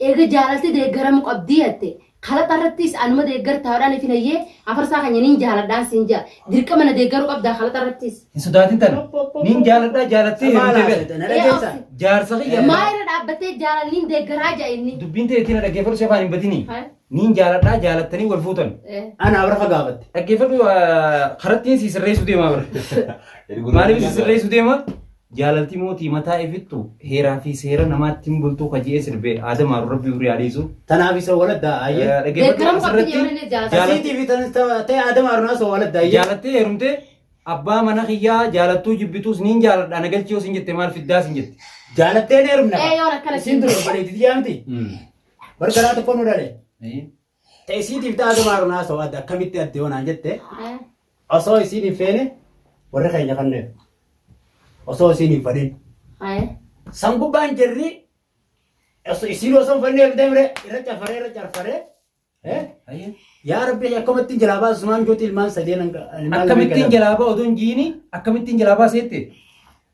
Eega jaalalti deeggaramu qabdii jatte kalaqa irrattiis anuma deeggartaa hodhaan ifi nayyee afarsaa kanya niin jaaladhaan siin ja'a dirqama na deeggaru qabdaa kalaqa irrattiis. Hin sodaatin tana. Niin jaaladhaa jaalattee heerumte bira. Ee obsi. Jaarsa kiyya. Maa irra dhaabbattee jaalal niin deeggaraa ja'a inni. Dubbiin tee ittiin na dhaggeeffadhu si afaan hin batinii. Hai. Niin jaaladhaa jaalattanii wal fuutan. Ee. Ana abrafa gaafatte. Dhaggeeffadhu ah, karattiin si sirreessuu deemaa bara. Maaliif si sirreessuu deema? Jaalalti moo tii mataa ifittu heeraa fi seera namaatti hin bultuu ka je'ee sirbe aada maaru rabbi umrii haa dheeysu. Tanaaf isa waladda ayyee. Dhaggeeffadhu Deeggaram qabdi asirratti je'uun inni jaalala. jaalala- Asiitii fi tan- ta- ta'e aada maaru naasoo waladda ayyee. jaalattee heerumtee abbaa mana kiyyaa jaalattuu jibbituus niin jaaladha na galchii yoo sin jette maal fiddaa sin jette. Jaalattee ni heerumna. Ee, yoon akkana Isiin dura obboleetti tiyyaa miti. Bara garaa tokko nu dhale. Ta isiitiif ta'a dabaaruun haasa'u adda akkamitti adda yoo naan jette Eh, osoo isiin hin feene warri keenya kanneen osoo isiin hin fadhin eh, san gubbaan jirri osoo isiin osoo hin fannee deemre irra cafaree irra carfaree eh, Ayyee. yaa rabbi akkamittiin jalaa baasu sumaan juuti ilmaan sadeen hanga- ilmaan lameen Akkamittiin kennamu. jalaa ba'u oduun jiini akkamittiin jalaa baaseetti.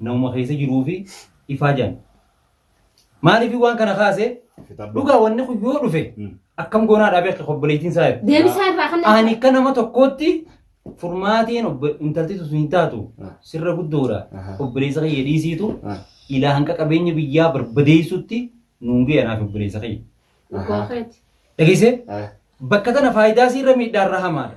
namuma keessa jiruu fi ifaa jiran. Maaliif waan kana kaase dhugaa wanni kun yoo dhufe akkam goonaa dhaabee akka obboleettiin isaa jedhu. Deebisaa irraa kan Ani akka nama tokkootti furmaatiin obbo- intalti sun hin taatu sirra guddoodha. Aha. Obboleessa kiyya dhiisiitu ilaa hanqa qabeenya biyyaa barbadeessutti nuun ga'e anaaf obboleessa kiyya. Dhugaa keeti. Dhageessee bakka tana faayidaa siirra miidhaarra hamaadha.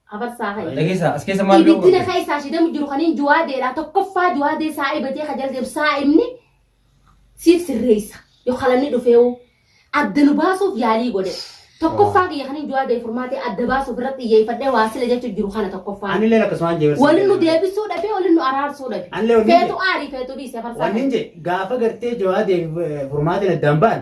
Hafarsaa hayi. Dhageessaa as keessa maal beeku Ibiddina keessaa ishee deemu jiru kaniin juwaadeedha. Tokkoffaa juwaadee saa'iba jee ka jala deemu saa'imni siif sirreessa. Yoo kalanni dhufeewu adda nu baasuuf yaalii godhe. Tokkoffaa kiyya kaniin juwaadee furmaatee adda baasuuf irratti xiyyeeffadhee waa sila jechuun jiru kana tokkoffaa. Ani illee akkasumaan jee barsiisa. Waliin nu deebisuu dhabe, waliin nu araarsuu dhabe. Ani illee waliin Feetu jee. aarii, feetu dhiise farsaa. Wanni hin jee gaafa gartee jawaa deebi furmaatiin addaan ba'an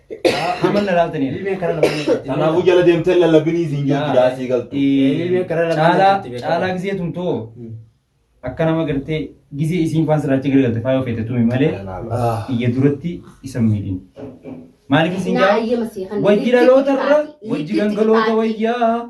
Amma na laaltaniiru. Ilmeen karaa lamaan irratti. Kanaafuu jala deemtee lallabinii siin jiru biraa sii galtu. Ilmeen karaa lamaan Caalaa irratti beekama. caalaa gisee tumtoo Hmm. akka nama gartee gisee isiin faan sirraacha gargalte faayoo feete tumi malee Ah. iyya duratti isa miidhin. Maaliif isin Naa jaa? ayyama sii kan. Wajji dhaloota irra wajji gangaloota wayyaa